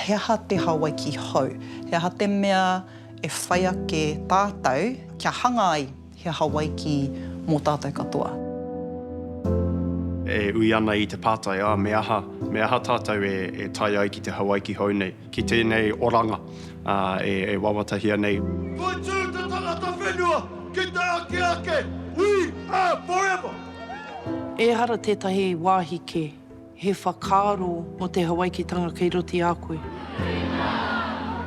He aha te Hawaiki hou? He aha te mea e whai ake tātou kia hanga ai he Hawaiki mō tātou katoa? E ui ana i te pātai, ā, me aha, me aha tātou e tae ai ki te Hawaiki hou nei? Ki tēnei oranga e wawatahia nei. Whai tū te tangata whenua ki te ake ake, We are forever! Ehara tētahi wāhi kē, he whakaaro mō te Hawaikitanga kei roto i a koe.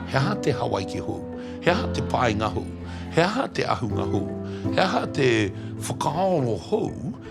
He aha te Hawaiki hou? He aha te painga hou? He aha te ahunga hou? He aha te whakaaro hou?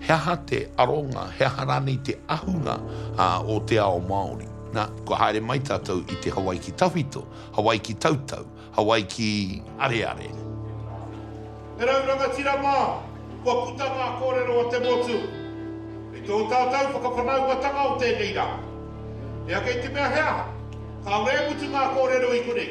He aha te aronga, he aha rānei te ahunga o te ao Māori? Na, kua haere mai tātou i te Hawaiki tawhito, Hawaiki tautau, Hawaiki areare. E rau rangatira mā, kua puta ngā kōrero o te motu i tō tātou whakawhanaungatanga o tēnei rā. Hea kei te mea he aha, kāore e mutu ngā kōrero i konei.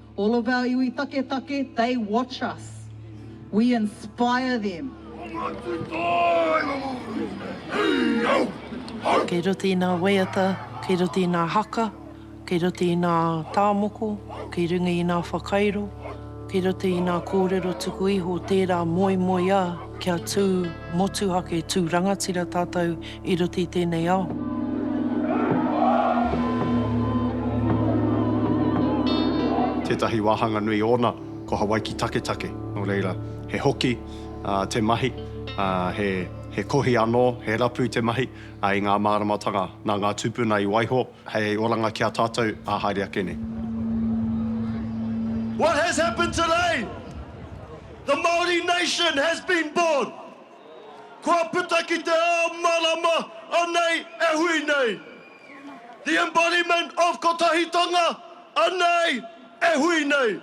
All of our iwi taketake, they watch us. We inspire them. Kei roto i ngā waiata, kei roto i ngā haka, kei roto i ngā tāmoko, kei runga i ngā whakairo, kei roto i ngā kōrero tuku iho tērā moemoeā kia tū motuhake, tū rangatira tātou I roto i tēnei ao. Tētahi wāhanga nui ōna ko Hawaiki Taketake, nō reira, he hoki te mahi, he kohi anō, he rapu te mahi i ngā māramatanga nā ngā tūpuna i waiho hei oranga ki a tātou ā haere ake nei. What has happened today? The Māori nation has been born! Kua puta ki te ao marama anei e hui nei. The embodiment of kotahitanga anei e hui nei.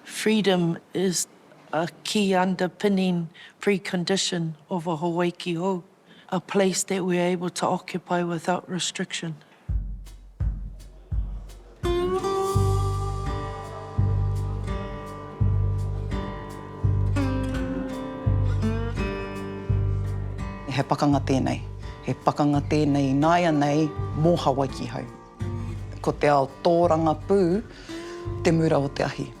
Freedom is a key underpinning precondition of a Hawaiki hou, a place that we are able to occupy without restriction. He pakanga tēnei. He pakanga tēnei ināianei mō Hawaiki hau. Ko te ao tōrangapū te mura o te ahi.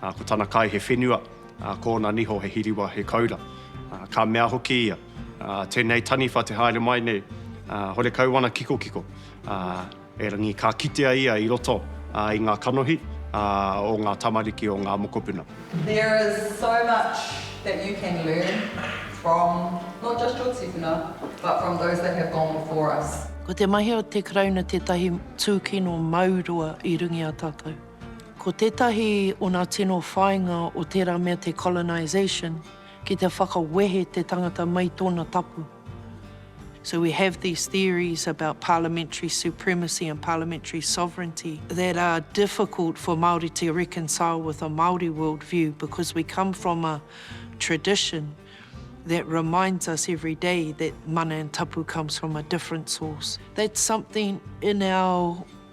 Ko tana kai he whenua, ko ōna niho he hiriwa, he koura. Ka mea hoki ia, Tēnei taniwha te haere mai nei, horekau ana kikokiko. Erangi ka kitea ia i roto i ngā kanohi o ngā tamariki o ngā mokopuna. There is so much that you can learn from not just your tipuna but from those that have gone before us. Ko te mahi o te Karauna tētahi tūkino mau roa i rungi a tātou. Ko tētahi o nā tino whāinga o tērā mea te colonisation, ki te whakawehe te tangata mai tōna tapu. So we have these theories about parliamentary supremacy and parliamentary sovereignty that are difficult for Māori to reconcile with a Māori world view because we come from a tradition that reminds us every day that mana and tapu comes from a different source. That's something in our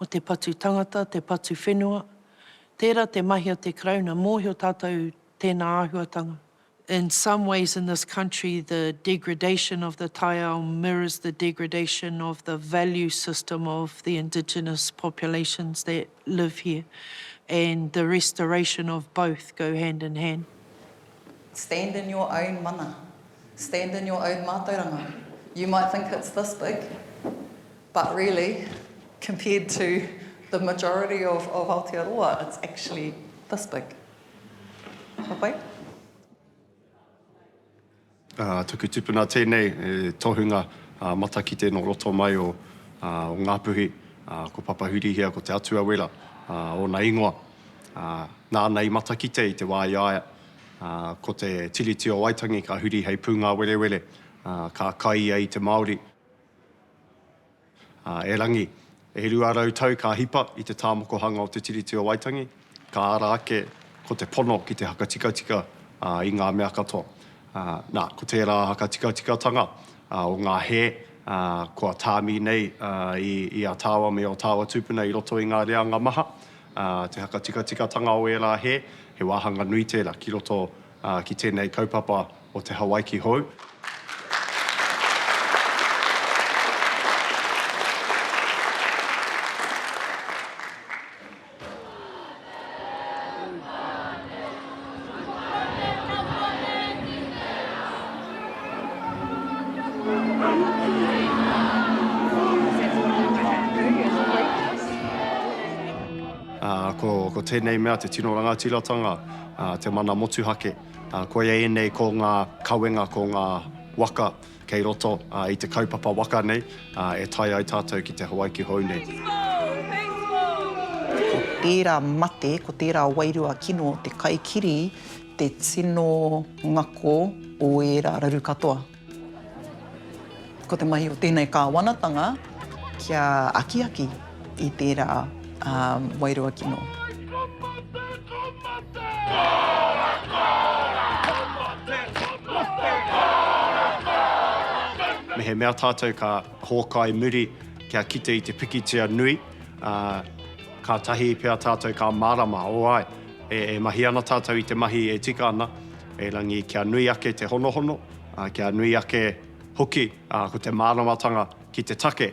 o te patu tangata, te patu whenua, tērā te mahi a te Karauna, mōhio tātou tēnā āhuatanga. In some ways in this country the degradation of the taiao mirrors the degradation of the value system of the indigenous populations that live here and the restoration of both go hand in hand. Stand in your own mana. Stand in your own mātauranga. You might think it's this big, but really, compared to the majority of of Aotearoa, it's actually this big. Ka pai? Ā, tuku tupuna tēnei, he tohunga matakite nō roto mai o Ngāpuhi, ko Papahurihia, ko Te Atua Wera ōna ingoa. ā, nāna i matakite i te wā i a ia, ā, ko te Tiriti o Waitangi ka huri hei pūngāwerewere, ā, ka kai ia i te Māori. Ā, erangi, e rua rau tau ka hipa i te tāmokohanga o te Tiriti o Waitangi, ka ara ake ko te pono ki te hakatikatika, ā, i ngā mea katoa. Ā, nā, ko tērā hakatikatikatanga, ā, o ngā hē, ā, kua tāmi nei, ā, i, i a tāua me ō tāua tūpuna i roto i ngā reanga maha, ā, te whakatikatikatanga o ērā hē, he wāhanga nui tērā ki roto ki tēnei kaupapa o te Hawaiki hou. Ko tēnei mea te tino rangatiratanga, te mana motuhake. Koia ēnei ko ngā kawenga, ko ngā waka. Kei roto i te kaupapa waka nei e tae ai tātou ki te Hawaiki hou nei. Ko tērā mate, ko tērā wairua kino o te kaikiri te tino ngako o ērā raru katoa. Ko te mahi o tēnei kāwanatanga kia akiaki. i tērā ā wairua kino. Mehemea tātou ka hōkai muri kia kite i te pikitia nui, ā, kātahi pea tātou ka mārama, o ai, e, e mahi ana tātou i te mahi e tika ana, erangi kia nui ake te honohono, ā, kia nui ake hoki, ā, ko te māramatanga ki te take.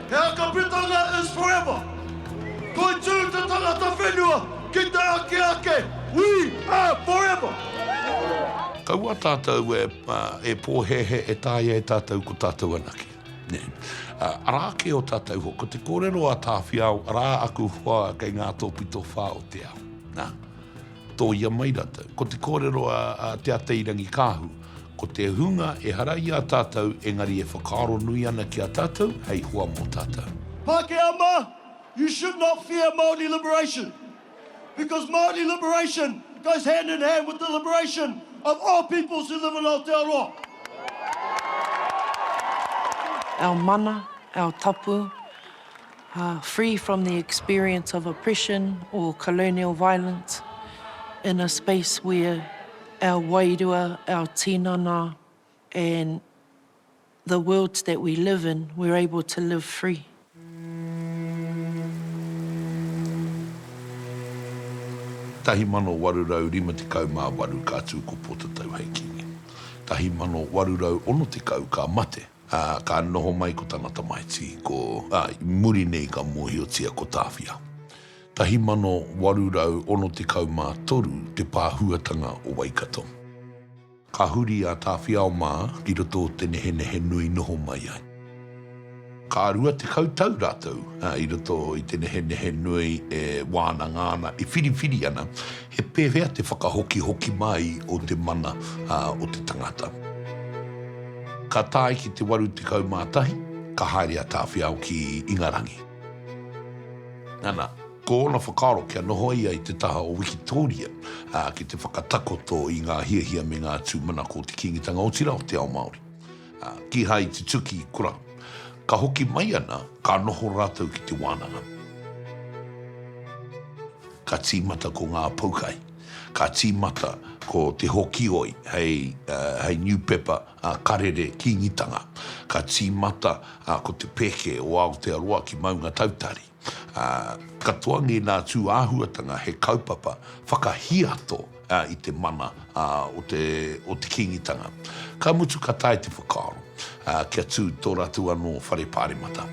He Hakapetanga is forever! Toitū te tangata whenua ki te ake ake, We are forever! Kaua tātou e pōhēhē e taea e tātou ko tātou anake. Arā kē o tātou hoa, ko te kōrero a Tāwhiao, arā aku hoa kei ngā tōpito whā o te ao. Nā, tōia mai rātou. Ko te kōrero a Te Atairangikaahu, Ko te hunga ehara i a tātou engari e whakaaro nui ana ki a tātou hei hoa mō tātou. Pākehā mā, you should not fear Māori liberation because Māori liberation goes hand in hand with the liberation of all peoples who live in Aotearoa. Our mana, our tapu. free from the experience of oppression or colonial violence in a space where our wairua, our tinana and the worlds that we live in, we're able to live free. Tahi mano waru rau rima tekau ma waru ka tu ko Potatau hei kingi. Tahi mano waru rau ono tekau ka mate. Ā, ka noho mai ko tana tamaiti, ko, ā, i muri nei ka mōhiotia ko Tāwhia. 1863 te pāhuatanga o Waikato. Ka huri a Tāwhiao mā ki roto o te nehenehe nui noho mai ai. Ka rua tekau tau rātou i roto i te nehenehe nui e wānanga ana, e whiriwhiri ana, He pēwhea te whakahokihoki mai o te mana o te tangata? Ka tae ki te 81, ka haere a Tāwhiao ki Ingarangi. Nana, ko ōna whakaaro kia noho ia i te taha o Wikitōria, ki te whakatakoto i ngā hiahia me ngā tūmanako o te Kīngitanga, otirā o te ao Māori. Kīhai tutuki i kura. Ka hoki mai ana, ka noho rātou ki te wānanga. Ka tīmata ko ngā poukai. Ka tīmata ko Te Hokioi hei niupepa karere Kīngitanga. Ka tīmata ko Te Pēke o Aotearoa ki Maungatautari. ā, ka toangi nā tūāhuatanga he kaupapa whakahiato i te mana o te o te Kīngitanga. Ka mutu ka tae te whakaaro kia tū tō rātou anō whare pāremata.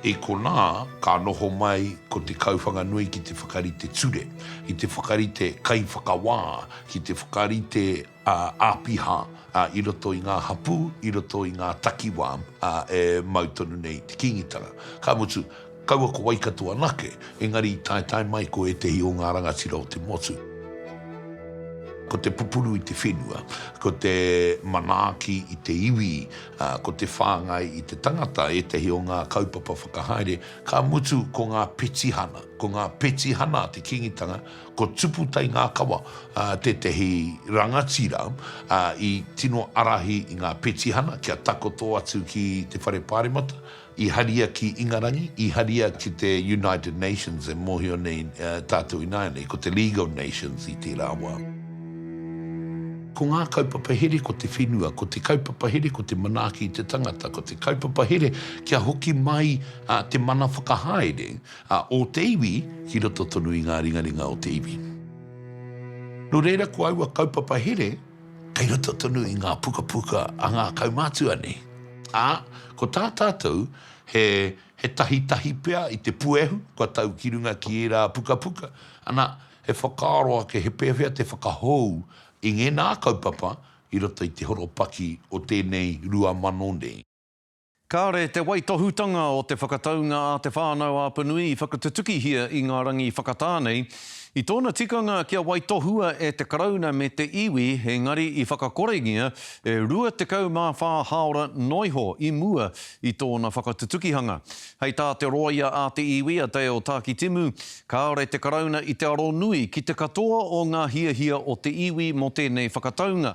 I konā ka noho mai ko Te Kauwhanganui ki te whakarite ture, ki te whakarite kaiwhakawā, ki te whakarite āpiha i roto i ngā hapū, i roto i ngā takiwā e mau tonu nei i te Kīngitanga. Ka mutu, kaua ko Waikato anake, engari i taetae mai ko ētehi o ngā rangatira o te motu. Ko te pupuru i te whenua, ko te manaaki i te iwi, ko te whāngai i te tangata ētehi o ngā kaupapa whakahaere, ka mutu ko ngā petihana. Ko ngā petihana a te Kīngitanga, Ko Tupu Taingākawa tētehi rangatira i tino ārahi i ngā petihana kia takoto atu ki te Whare Pāremata, i haria ki Ingarangi, i haria ki te United Nations e mōhio nei tātou ināianei ko te League of Nations i tērā wā. Ko ngā kaupapa here ko te whenua, ko te kaupapa here ko te manaaki i te tangata, ko te kaupapa here kia hoki mai te mana whakahaere A o te iwi ki roto tonu i ngā ringaringa o te iwi. Nō reira ko aua kaupapa here kei roto tonu i ngā pukapuka a ngā kaumātua nei. Ā, ko tā tātou he, he tahitahi pea i te puehu kua tau ki runga ki ērā pukapuka, ana, he whakaaro ake he pēwhea te whakahou i ngēnā kaupapa i roto i te horopaki o tēnei rua mano nei. Kāre te waitohutanga o te whakataunga a Te Whānau-a-Apanui i whakatutukihia i ngā rangi whakatā nei. I tōna tikanga kia waitohua e te Karauna me te iwi, engari i whakakorengia e 24 hāora noa iho i mua i tōna whakatutukihanga. Hei tā te rōia a te iwi, a Dale Tākitimu, kāore te Karauna i te aro nui ki te katoa o ngā hiahia o te iwi mō tēnei whakataunga.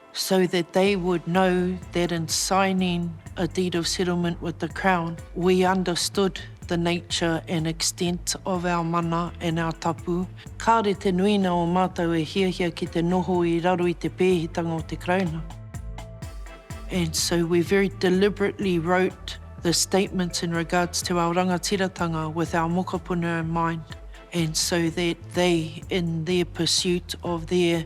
so that they would know that in signing a deed of settlement with the Crown we understood the nature and extent of our mana and our tapu, kāore te nuina o mātou e hiahia ki te noho i raro i te pēhitanga o te Karauna. And so we very deliberately wrote the statements in regards to our rangatiratanga with our mokopuna in mind, and so that they, in their pursuit of their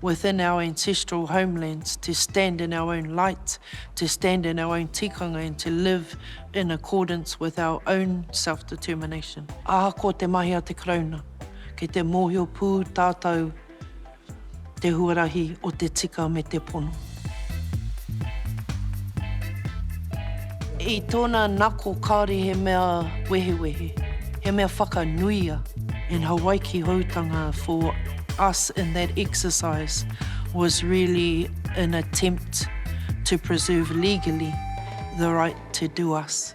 within our ancestral homelands to stand in our own light, to stand in our own tikanga and to live in accordance with our own self-determination. Ahakoa te mahi a te Karauna, kei te mōhio pū tātou te huarahi o te tika me te pono. I tōna nako kāore he mea wehewehe, he mea whakanuia. In Hawaiki Houtanga for us in that exercise was really an attempt to preserve legally the right to do us.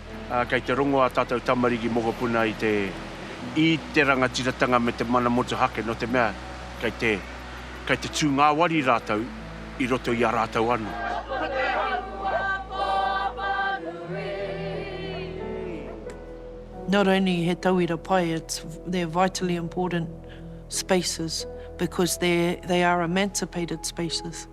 Ā, kei te rongo ā tātou tamariki mokopuna i te, i te rangatiratanga me te mana motuhake, nō te mea, kei te, kei te tū ngāwari rātou i roto i a rātou anō. Not only he tauira pai, it's, they're vitally important spaces because they're, they are emancipated spaces.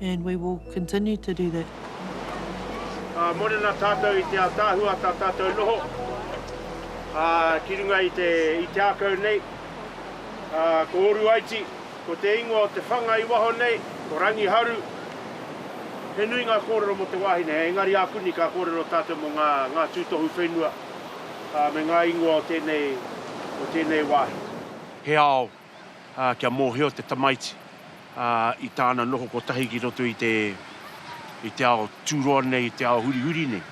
And we will continue to do that. Ā, mōrena tātou i te ātaahua tā tātou noho, ā, ki runga i te, i te ākau nei, ā, ko Oruaiti, ko te ingoa o te whanga i waho nei, ko Rangiharu, he nui ngā kōrero mō te wāhine hei, engari ākuni ka kōrero tātou mō ngā, ngā tūtohu whenua, ā, me ngā ingoa o tēnei, o tēnei wāhi. He ao, kia mōhio te tamaiti i tāna noho kotahi ki roto i te, i te ao tūroa nei, i te ao hurihuri nei.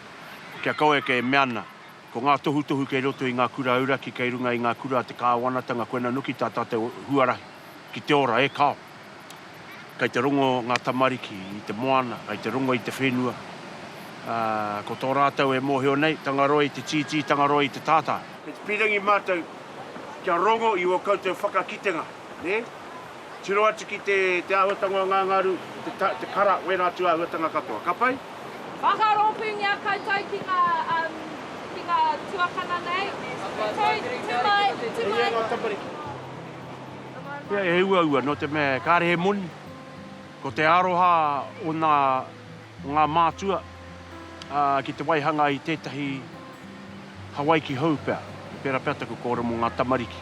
Kia kaua e kē, mea ana, ko ngā tohutohu kei roto i ngā kura auraki kei runga i ngā kura a te kāwanatanga koina noki tā tātou huarahi ki te ora, e kao! Kei te rongo ngā tamariki i te moana, kei te rongo i te whenua, ā, ko tō rātou e mōhio nei, Tangaroa i te tītī, Tangaroa i te tātā. Kei te pīrangi mātou kia rongo i ō koutou whakakitenga, nē? Tiro atu ki te, te āhuatanga o ngā ngaru, te ta, te kara, wēnā atu āhuatanga katoa. Ka pai? Whakarōpūngia koutou ki ngā, um, ki ngā tuakana nei. Kei, tū mai, tū mai. E hia ngā tamariki? Pea he uaua nō te mea kāre he moni, ko te aroha o nā, o ngā mātua, ā, ki te waihanga i tētahi Hawaiki hou pea, pērā pea taku kōrero mō ngā tamariki.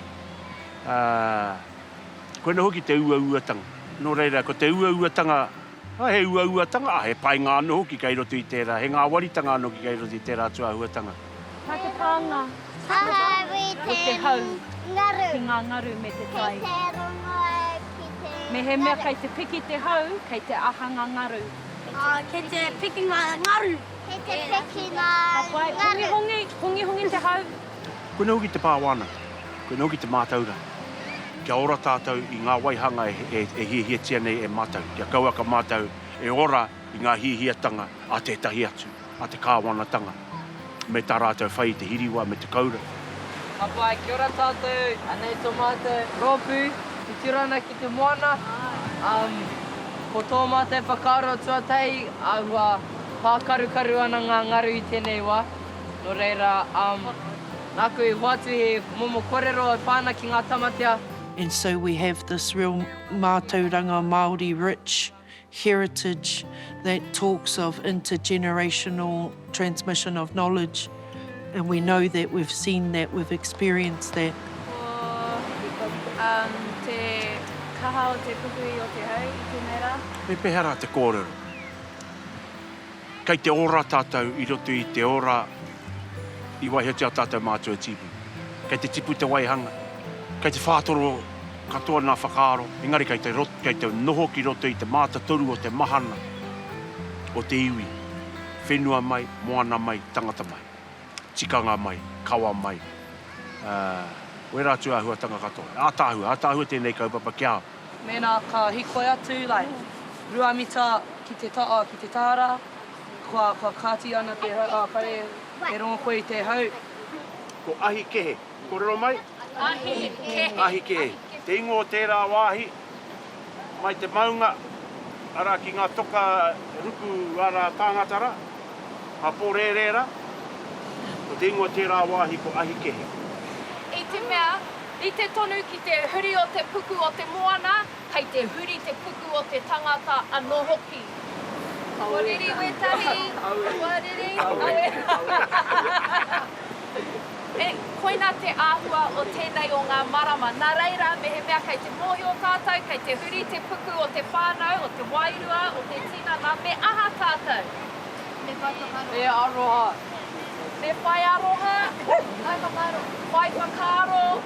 Ā, koinā hoki te uauatanga. Nō reira, ko te uauatanga, ā, he uauatanga, ā, he painga anō hoki kei roto i tērā, he ngāwaritanga anō hoki kei roto i tērā tūāhuatanga. Nā te pānga. Hahari te hau. Ngaru. Ki ngā ngaru me te tai. Kei te rongoa ki te ngaru. Mehemea kei te piki te hau, kei te aha ngā ngaru? Kei te piki ngā ngaru. Kei te piki ngā ngaru. Hongihongi, hongihongi te hau. Koinei hoki te pā wānanga. Koinei hoki te mātauranga. Kia ora tātou i ngā waihanga e hiahiatia nei e mātou. Kia kauaka mātou e ora i ngā hiahiatanga a tētahi atu. a te Kāwanatanga me tā rātou whai i te hiriwa me te koura. Ka pai, kia ora tātou, anei tō mātou rōpū i tiro ana ki te moana, ko tō mātou whakaaro tuatahi āhua pākarukaru ana ngā ngaru i tēnei wā, nō reira, nāku i hoatu he momo kōrero e pā ana ki ngā tamatea. And so we have this real mātauranga Māori rich. heritage that talks of intergenerational transmission of knowledge and we know that, we've seen that, we've experienced that. Ko um, te kaha o te pupuri o te hau i tēnei rā. Pēpeha rā te kōrero? Kei te ora tātou i roto i te ora i waihotia tātou mātou e Tīpuna. Kei te tipu te waihanga, kei te whātoro katoa ngā whakaaro, engari kei te rot, kei te noho ki roto i te mātatoru o te mahana o te iwi, whenua mai, moana mai, tangata mai, tikanga mai, kawa mai, ā, wērā atu āhuatanga katoa. Ātaahua, ātaahua tēnei kaupapa ki a au. Mēnā ka hikoi atu, like, rua mita ki te taha, ki te tāra, kua, kua kāti ana te hau, ā, whare, e rongo koe i te hau. Ko ahi kehe. Kōrero mai? Ahi kehe. Ahi kehe. Te ingoa o tērā wāhi, mai te maunga, arā, ki ngā toka ruku ārā tāngata rā, ngā pōrērē rā, ko te ingoa o tērā wāhi ko ahi kehe. I te mea, Rite tonu ki te huri o te puku o te moana, kei te huri te puku o te tangata anō hoki. Kua riri wētahi, kua riri, aue. He, koina te āhua o tēnei o ngā marama. Nā reira, mehemea kei te mōhio tātou, kei te huri te puku o te whānau, o te wairua, o te tinana, me aha tātou? Te Whaiwhakaroa. Te Aroha. Te Whaiaroha. Whaiwhakaaro. Whaiwhakaaro.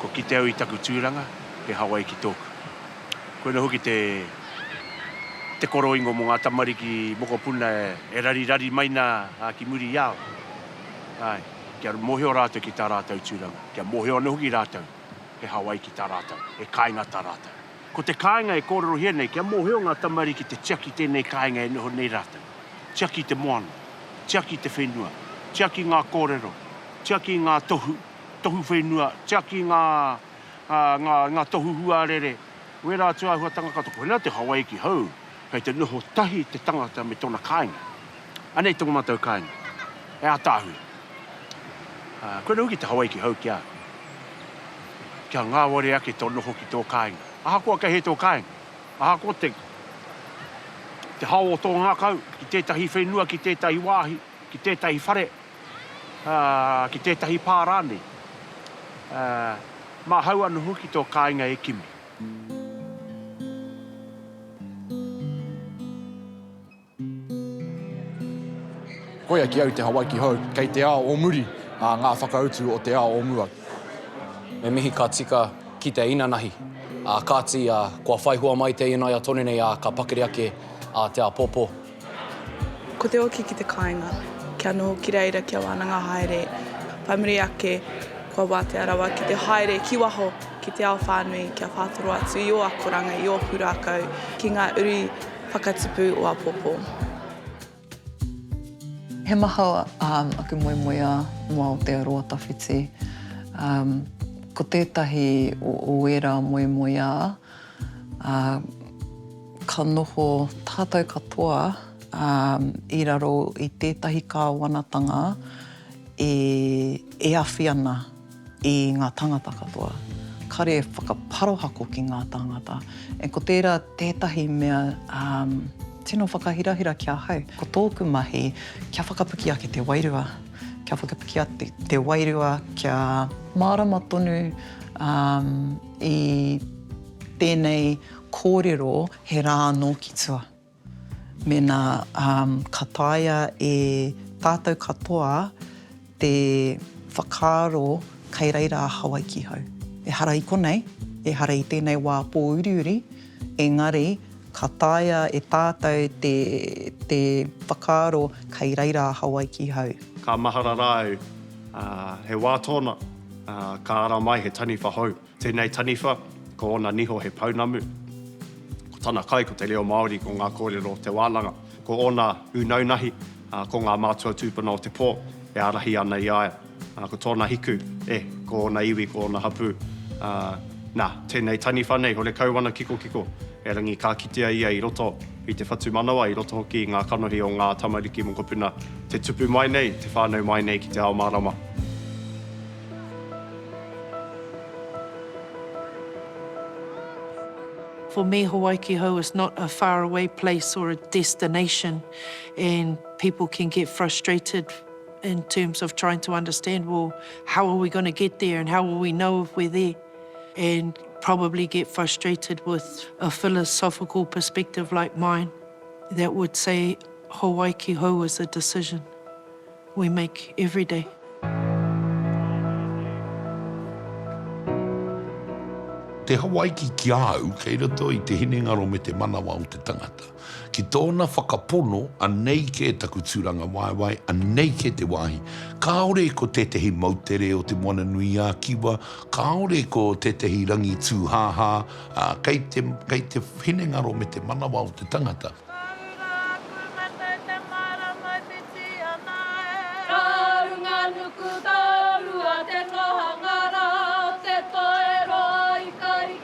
Ko Ki te au i taku tūranga, he Hawaiki tōku. Koinei hoki te te koroingo mō ngā tamariki mokopuna e rarirari mai nā ki muri i a au. Āe, kia mōhio rātou ki tā rātou tūranga, kia mōhio anō hoki rātou he Hawaiki tā rātou, he kāinga tā rātou. Ko te kāinga e kōrerohia nei, kia mōhio ngā tamariki te tiaki tēnei kāinga e noho nei rātou. Tiaki te moana, tiaki te whenua, tiaki ngā kōrero, tiaki ngā tohu, tohu whenua, tiaki ngā, ngā, ngā tohu huarere, wērā atu āhuatanga katoa. Koinā te Hawaiki hou. Kei te noho tahi te tangata me tona kāinga. Anei tō mātou kāinga. He ātaahua. Koe noa hoki te Hawaiki hou ki a au. Kia ngāwari ake tō noho ki tō kāinga. Ahakoa kei hea tō kāinga, ahakoa te te hao o tō ngākau, ki tētahi whenua, ki tētahi wāhi, ki tētahi whare, ki tētahi pā rānei, māhau anō hoki tō kāinga e kimi. Koia ki au te Hawaiki hou, kei te ao o muri a ngā whakautu o te ao o mua. Me mihi ka tika ki te inanahi, ā, kāti, ā, kua whaihua mai te ina ia tonu nei, ā, ka pakari ake, ā, te āpōpō. Ko te oki ki te kāinga, kia noho ki reira, kia wānanga haere, whai muri ake, kua wātea rawa ki te haere ki waho, ki te ao whānui, kia whātoro atu i ō akoranga, i ō pūrākau, ki ngā uri whakatipu o apōpō. He maha aku moemoeā noa o te aroa tawhiti. Ko tētahi o ērā moemoeā. Ā, ka noho tātou katoa i raro i tētahi kāwanatanga e awhi ana i ngā tāngata katoa. Kāre e whakaparohako ki ngā tāngata. E ko tērā tētahi mea tino whakahirahira ki ahau. Ko tōku mahi, kia whakapiki ake te wairua. Kia whakapiki ake te wairua, kia mārama tonu I tēnei kōrero he rā anō ki tua. Mēnā ka taea e tātou katoa te whakaaro kei reira a Hawaiki hau. Ehara i konei, ehara i tēnei wā pōuriuri, engari ka taea e tātou te whakaaro kei reira a Hawaiki hau. Ka mahara rāu. Ā, he wā tōna, ā, ka ara mai he taniwha hou. Tēnei taniwha, ko ōna niho he pounamu. Ko tana kai ko te reo Māori, ko ngā kōrero o te wānanga. Ko ōna ūnaunahi, ā, ko ngā mātua tūpuna o te pō e ārahi ana i a ia. Ā, ko tōna hiku, e, ko ōna iwi, ko ōna hapū. Ā, nā, tēnei taniwha nei, horekau ana kikokiko, erangi ka kitea ia i roto. i te whatumanawa, i roto hoki i ngā kanohi o ngā tamariki mokopuna, te tupu mai nei, te whānau mai nei ki te ao mārama. For me Hawaikihou is not a far away place or a destination and people can get frustrated in terms of trying to understand, well, how are we going to get there and how will we know if we're there? and probably get frustrated with a philosophical perspective like mine that would say Hawaiki hou is a decision we make every day. Te Hawaiki ki a au kei roto i te hinengaro me te manawa o te tangata. Ki tōna whakapono, anei kē taku tūrangawaewae, anei kē te wāhi. Kāore ko tētehi moutere o Te Moana-nui-ā-Kiwa, kāore ko tētehi rangi tūhāhā, ā, kei te, kei te hinengaro me te manawa o te tangata. Ka runga aku mate te marama whiti ana e. Ka runga nuku taurua te nohanga rā o te toeroa i ka rite.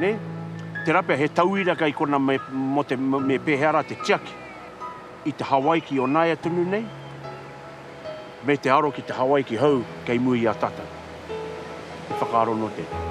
Nē? Tērā pea he tauira kei kona me, mō te, me pēhea rā te tiaki i te Hawaiki o nāia tonu nei, me te aro ki te Hawaiki hou kei mua i a tātou. He whakaaro nō tēnei.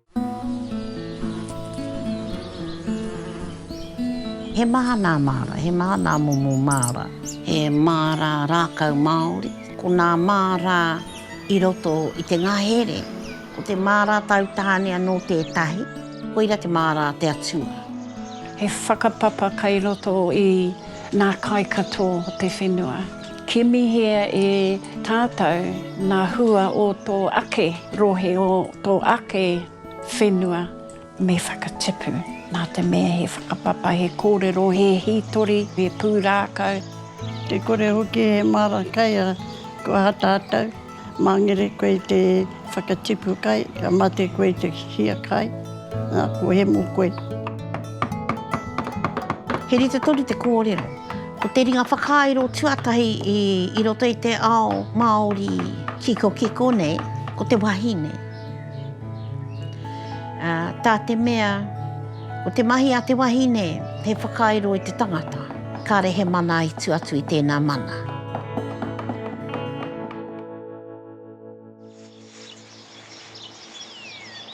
He maha nā māra, he maha nā momo māra. He māra rākau Māori. Ko nā māra i roto i te ngahere, ko te māra tau tāne anō tētahi, koira te māra a te Atua. He whakapapa kei roto i nā kai katoa o te whenua. Kimihia e tātou ngā hua o tō ake rohe, o tō ake whenua, me whakatipu nā te mea he whakapapa, he kōrero, he hītori, he pūrākau. Te kore hoki he māra kai a kua hatahatau. Mangere koe i te whakatipu kai, ka mate koe i te hia kai, a, kua hemo koe. He rite tonu te kōrero. Ko te ringa whakairo tuatahi i, i roto i te ao Māori kikokiko nei, ko te wahine. Ā, tā te mea. Ko te mahi a te wahine, he whakairo i te tangata. Kāre he mana i tu atu i tēnā mana.